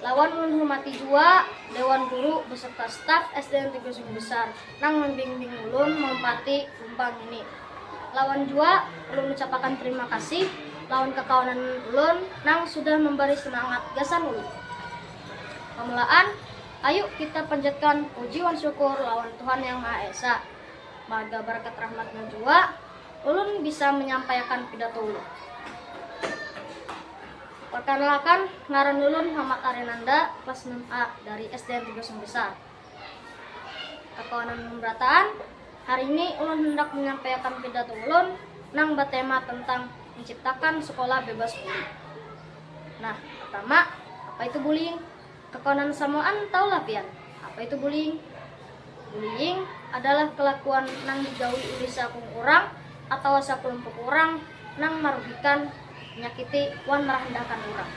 Lawan menghormati jua Dewan Guru beserta staf SDN Tiga Sungai Besar nang membimbing ulun mempati lumbang ini. Lawan jua ulun ucapakan terima kasih lawan kekawanan ulun nang sudah membari semangat gasan ulun. Pamulaan, ayu kita panjatkan puji wan syukur lawan Tuhan Yang Maha Esa. Marga barakat rahmat-Nya jua ulun bisa menyampaiakan pidato ulun. Perkenalkan, ngaran ulun Muhammad Arinanda, kelas enam A dari SDN tiga Sumur Besar, Kakawanan Pemberataan. Hari ini ulun handak menyampaiakan pidato ulun nang batema tentang menciptakan sekolah bebas bully. Nah, pertama, apa itu bullying? Kakawanan samuaan tahu lah pian, apa itu bullying? Bullying adalah kelakuan nang digawi ulih saakung urang atawa sakelumpuk urang nang marugikan, manyakiti, wan marahandahkan urang.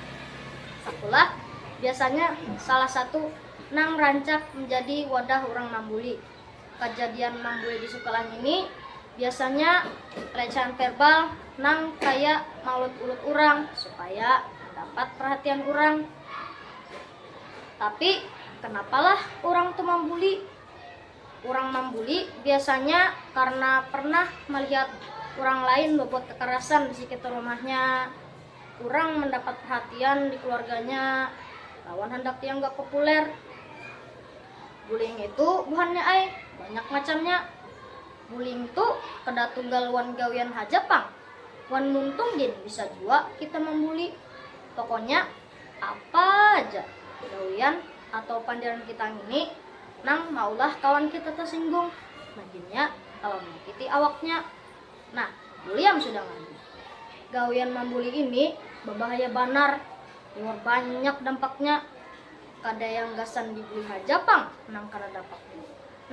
Sakulah biasanya salah satu nang rancak manjadi wadah urang mambuli. Kajadian mambuli di sukalah ngini biasanya recehan verbal nang kaya maulut-ulut urang supaya mandapat perhatian urang. Tapi, kenapalah urang tu mambuli? Urang mambuli biasanya karna pernah malihat urang lain babuat kakarasan di sikitar rumahnya, kurang mandapat perhatian di keluarganya, lawan handak dianggap populer. Guling itu buhannya ai, banyak macamnya. Guling tu kada tunggal wan gawian haja pang, wan muntung gin bisa jua kita mambuli. Pokonya apa ja gawian atau pandiran kita ngini nang maulah kawan kita tasinggung, maginnya kawa manyakiti awaknya. Nah, buliam sudah ngalih. Gawian mambuli ini babahaya banar, liwar banyak dampaknya. Kada yang gasan dibui haja pang nang kada dapat.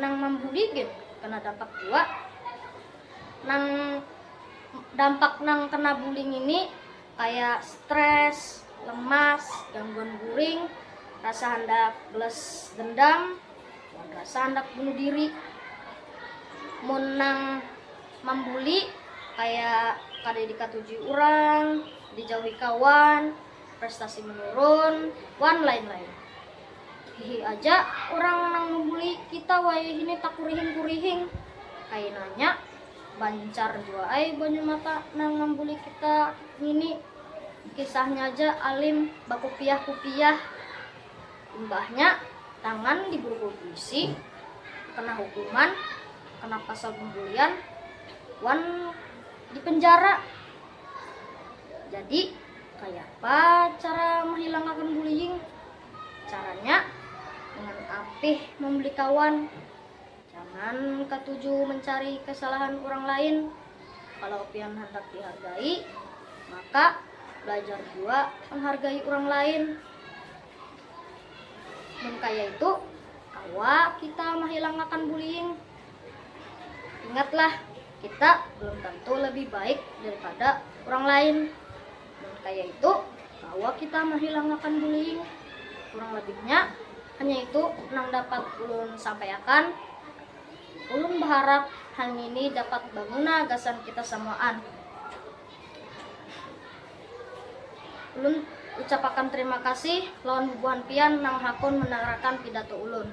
Nang mambuli gin kena dapat jua. Nang dampak nang kena buli ngini kaya stres, lemas, gangguan guring, rasa handak belas dendam, wan rasa handak bunuh diri. Mun nang mambuli kaya kada dikatujui urang, dijauhi kawan, prestasi menurun, wan lain-lain. Hihi aja urang nang membuli kita wayahini takurihing-kurihing. Kainanya bancar jua ai banyu mata nang mambuli kita ngini. Kisahnya ja alim bakupiah-kupiah. Imbahnya tangan diburukul pulisi, kena hukuman, kena pasal pembulian, wan dipenjara. Jadi. Kayapa cara mahilangakan bullying? Caranya dengan apih membeli kawan. Jangan katuju mencari kesalahan urang lain. Kalau pian handak dihargai, maka belajar jua menghargai urang lain. Mun kaya itu, kawa kita mahilangakan bullying. Ingatlah! Kita belum tantu lebih baik daripada urang lain. Mun kaya itu, kawa kita mahilangakan bullying. Kurang lebihnya, hanya itu nang dapat ulun sampaiakan. Ulun baharap hal ngini dapat baguna gasan kita samuaan. Ulun ucapakan terima kasih lawan bubuhan pian nang hakun mandangarakan pidato ulun.